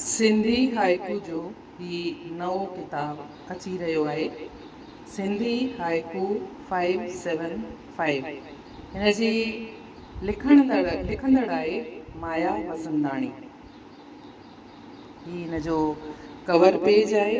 Sindhi haiku جو هي نئون ڪتاب اچي رهيو آهي Sindhi haiku five seven five هن جي لکندڙ لکندڙ آهي مايا وسنداڻي هي هن جو ڪور پيج آهي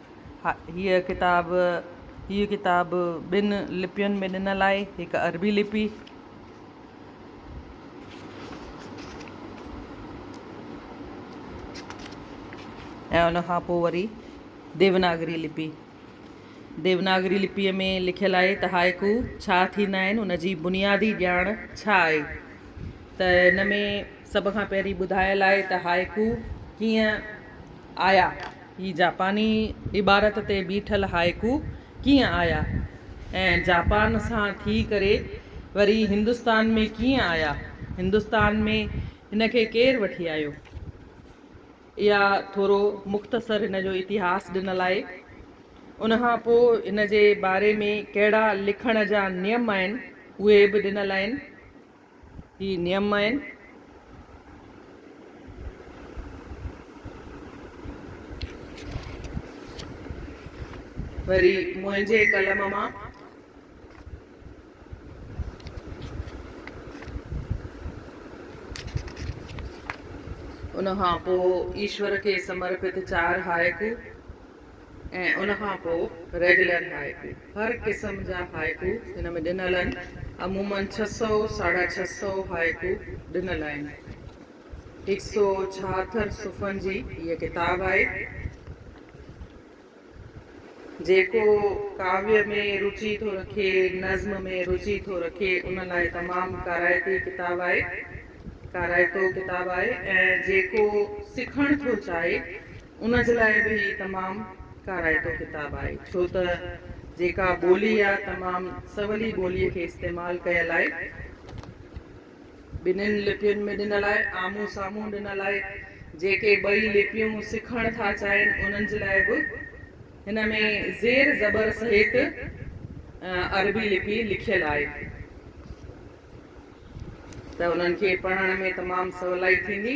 هيء ڪتاب هيء ڪتاب ٻن لپين ۾ ڏنل آهي، هڪ عربي لپي ۽ ان کان پوء وري ديوناگري لپي. ديوناگري لپيء ۾ لکيل آهي ته هائيڪو ڇا ٿيندا آهن، ان جي بنيادي ڄاڻ ڇا آهي ته ان ۾ سڀ کان پهرين ٻڌايل آهي ته هائيڪو ڪيئن آيا؟ هي جاپاني عبارت تي بيٺل هائيڪو ڪيئن آيا ۽ جاپان سان ٿي ڪري وري هندستان ۾ ڪيئن آيا؟ هندستان ۾ هن کي ڪير وٺي آيو؟ اها ٿورو مختصر هن جو اتهاس ڏنل آهي. ان کان پوء هن جي باري ۾ ڪهڙا لکڻ جا نيم آهن، اهي به ڏنل آهن. هي نيم آهن. وري منهنجي قلم مان. ان کان پوء ايشور کي سمرپت چار هائيڪو. ۽ ان کان پوء ريگيولر هائيڪو. هر قسم جا هائيڪو هن ۾ ڏنل آهن. عموماً ڇهه سؤ، ساڍا ڇهه سؤ هائيڪو ڏنل آهن. هڪ سو ڇاهتر صفحن جي هيء ڪتاب آهي. جيڪو ڪاويه ۾ روچي ٿو رکي، نظم ۾ روچي ٿو رکي، ان لاء تمام ڪارائتي ڪتاب آهي. ڪارائتو ڪتاب آهي ۽ جيڪو سکڻ ٿو چاهي، ان جي لاء به هي تمام ڪارائتو ڪتاب آهي، ڇو ته جيڪا ٻولي يا تمام سولي ٻوليء کي استعمال ڪيل آهي، ٻنهين لپين ۾ ڏنل آهي، آمهون سامهون ڏنل آهي، جيڪي ٻئي لپيون سکڻ ٿا چاهين، انهن جي لاء به هن ۾ زير زبر سهيت عربي لپي لکيل آهي، ته انهن کي پڙهڻ ۾ تمام سولائي ٿيندي.